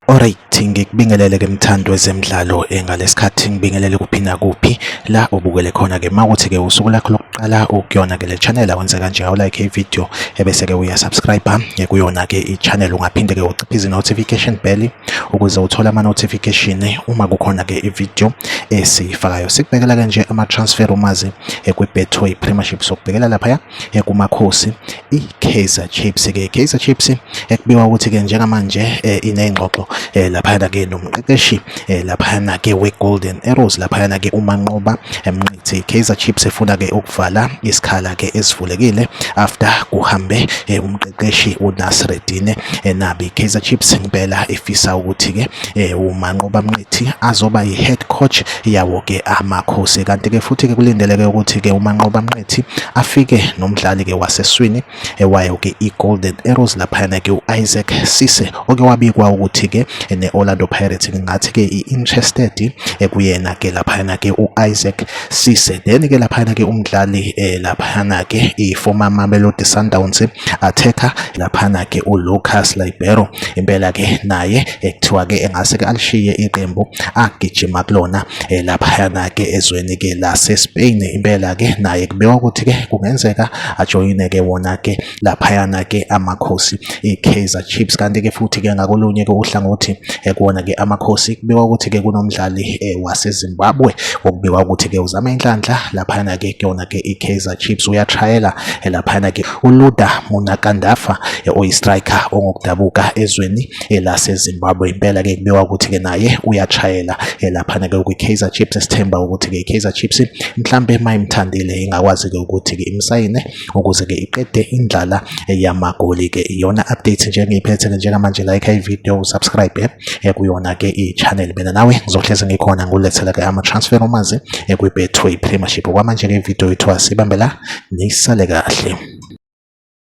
Alright ngikubingelele ke mthando wezemidlalo engalesikhathi ngibingelele kuphi nakuphi la ubukele khona ke mawuthi ke usuku lakho lokuqala ukuyona ke le channel awenze kanje awu like ivideo ebese ke uya subscribe ngekuyona ke i channel ungaphinde ke uciphe izi notification bell ukuze uthole ama-notification uma kukhona-ke ividiyo esiyifakayo sikubekela-ke nje ama-transfer umazi kwi-betway premiership sokubhekela laphaya kumakhosi i-kaizer chiefs-ke i-kaizer chiefs ekubiwa ukuthi-ke njengamanje eh, iney'ngxoxo eh, laphayana-ke nomqeqeshi eh, laphayana-ke we-golden arrows laphayana-ke umanqoba emnqithi Kaizer Chiefs efuna ke ukuvala isikhala ke esivulekile after kuhambe eh, umqeqeshi uNasreddine eh, Nabi Kaizer Chiefs impela ifisa ukuthi ke eh, uManqoba Mnqithi azoba yihead coach yawo ke amakhosi kanti ke futhi ke kulindeleke ukuthi ke uManqoba Mnqithi afike nomdlali ke waseswini ewayo ke i-Golden Arrows laphayana ke u-Isaac Sise oke wabikwa ukuthi ke ne-Orlando Pirates ngingathi ke i-interested ekuyena ke laphayana ke u-Isaac Sise then ke laphayana ke umdlali eh, laphayana ke i-former Mamelodi Sundowns attacker laphayana ke u-Lucas Libero impela ke naye ekuthiwa ke engase ke alishiye iqembu agijima kulona eh, laphayana ke ezweni ke lase-Spain impela ke naye kubekwa ukuthi ke kungenzeka ajoyine ke wona ke laphayana ke amakhosi iKaizer Chiefs kanti ke futhi ke ngakolunye ke uhlangothi eh, kuwona ke amakhosi kubikwa ukuthi ke kunomdlali eh, waseZimbabwe okubikwa ukuthi ke uzama inhlanhla laphayana ke kuyona ke iKaizer Chiefs uyatrayela eh, laphayana ke uLuda Munakandafa oyistriker ongokudabuka ezweni elasezimbabwe impela ke kubiwa ukuthi ke naye uyachayela elaphana ke kwi-kaizer chips esithemba ukuthi ke i-kaizer chips mhlampe mayimthandile ingakwazi ke ukuthi ke imsayine ukuze ke iqede indlala yamagoli ke iyona update nje engiyiphethe ke njengamanje like i-video subscribe eh, kuyona ke i-channel mina nawe ngizohlezi ngikhona ngulethela ke ama-transfer omazi eh, kwi-betway premiership kwamanje ke ividiyo yethu asibambela nisale kahle